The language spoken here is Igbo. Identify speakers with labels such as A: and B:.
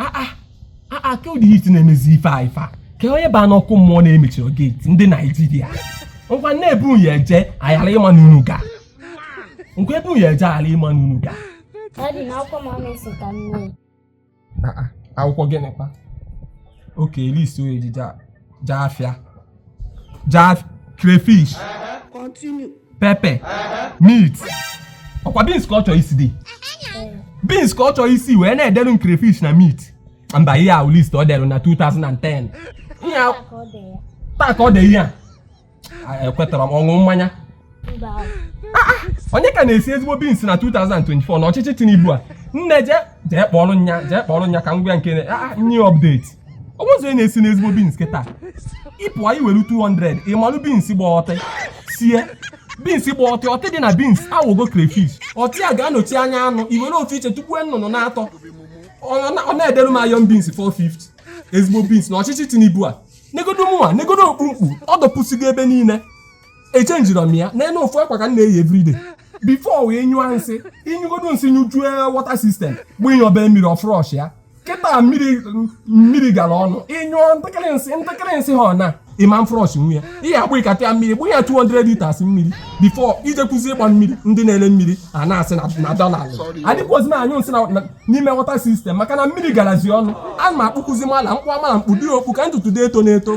A: aa ah, aa ah, ah, kee ụdị heat na-emezi ife a ife a ka onye baa n'ọkụ mmụọ na-emechirọ gate ndị Naịjirịa ngwa na-ebu ya eje ayara ịma n'unu ga ngwa ebu ya eje ayara ịma n'unu ga akwụkwọ gịnịkwa okay list e ji je a jee afịa jee crayfish pepper meat ọkwa beans ka ọ chọọ isi dị beans ka ọ chọọ isi wee na-edelu m crayfish na meat mba ihe a wụ list o delu na 2010 ihe taa ka ọ dị ihe a ekwetara m ọṅụ mmanya onye ka na-esi ezigbo beans na 2024 na ọchịchị Tinubu a nne je jee kpọrọ nya jee kpọrọ nya ka m gwa nke nye update o nwe ụzọ ị na-esi n'ezigbo beans kịta ị pụọ i were 200 ị malụ beans gba ọtị sie beans gba ọtị ọtị dị na beans awụgo crayfish ọtị a ga-anọchi anya anụ i were ofu iche tụgbuo nnụnụ naatọ ọ na-edere m iron beans 450 ezigbo beans na ọchịchị Tinubu a negodo mụnwa negodo okpukpu ọ dọpụsigo ebe niile echenjirọ m ya n'elu ofu akwa ka m na-eyi everyday before wee nyụọ nsị ị nyụgodo nsị nyụjue water system bụ ịnyọba mmiri ọ flush ya kịta mmiri mmiri gara ọnụ ị nyụọ ntakịrị nsị ntakịrị nsị ha na ịma mflush nwunye ihe agba ịkata ya mmiri gbụ ya 200 liters mmiri before i jekwuzi ịgba mmiri ndị na-ele mmiri a na-asị na dọla adịkwuozi na anyụ nsị na n'ime water system maka na mmiri garazi ọnụ a ma akpụkụzi mala mkpụ amala mkpụ dị okpu ka ntutu dị eto na-eto